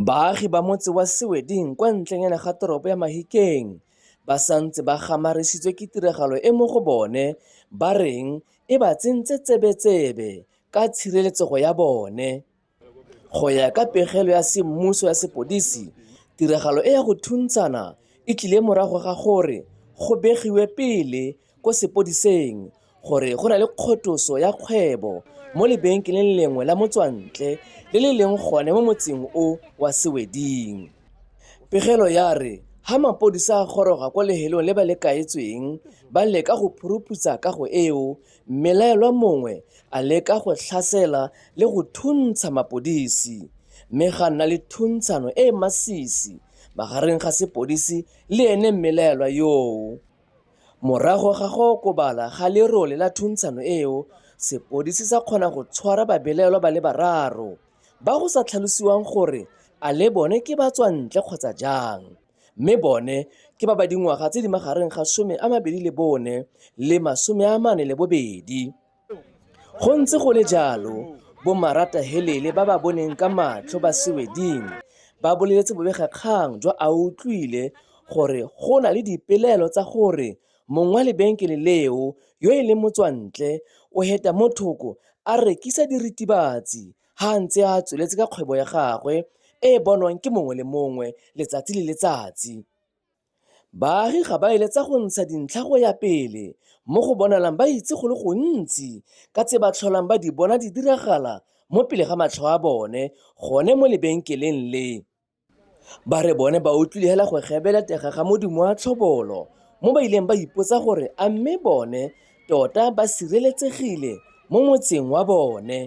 Baagi ba motse wa Seweding kwa ntlenyana ga toropo ya Mahikeng ba santse ba gamaresitswe ke tiragalo e mo go bone ba reng e ba tsentse tsebetsebe ka tshireletsego ya bone. Go ya ka pegelo ya semmuso ya sepodisi, tiragalo e ya go thuntshana e tlile morago ga gore go begiwe pele ko sepodiseng gore go na le kgotoso ya kgwebo mo lebenkeleng lengwe la motswantle le le leng gone mo motseng o wa Seweding. Pegelo ya re ha mapodisa a goroga ko lehelong le ba le kaetsweng ba leka go phuruputsa kago eo mme laelwa mongwe a leka go tlhasela le go thuntsha mapodisi mme ga nna le thuntshano e e masisi magareng ga sepodisi le ene mmelaelwa yoo. Morago ga go okobala ga lerole la thuntshano eo, sepodisi sa kgona go tshwara babelaelwa ba le bararo, ba go sa tlhalosiwang gore a le bone ke batswantle kgotsa jang, mme bone ke ba ba dingwaga tse di magareng ga 24 le 42. Go ntse go le jalo, bomaratahelele ba ba boneng ka matlho ba Sweding ba boleletse bobegakgang jwa Autlwile gore go na le dipelaelo tsa gore mong wa lebenkele leo yo e leng motswantle o heta mo thoko a rekisa diritibatsi ha a ntse a tsweletse ka kgwebo ya gagwe e e bonwang ke mongwe le mongwe letsatsi le letsatsi. Baagi ga ba eletsa go ntsha dintlha go ya pele mo go bonalang ba itse go le gontsi ka tse ba tlholang ba di bona di diragala mo pele ga matlho a bone gone mo lebenkeleng le. Ba re bone ba utlwile hela go gebela tega ga modumo wa tlhobolo mo ba ileng ba ipotsa gore a mme bone tota ba sireletsegile mo motseng wa bone.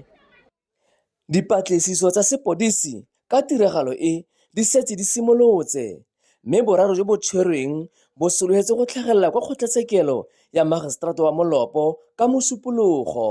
Dipatlisiso tsa sepodisi ka tiragalo e di setse di simolotse mme boraro jo bo tshwerweng bo solofetse go tlhagelela kwa kgotlatshekelo ya Magiseterata wa Molopo ka Mosupologo.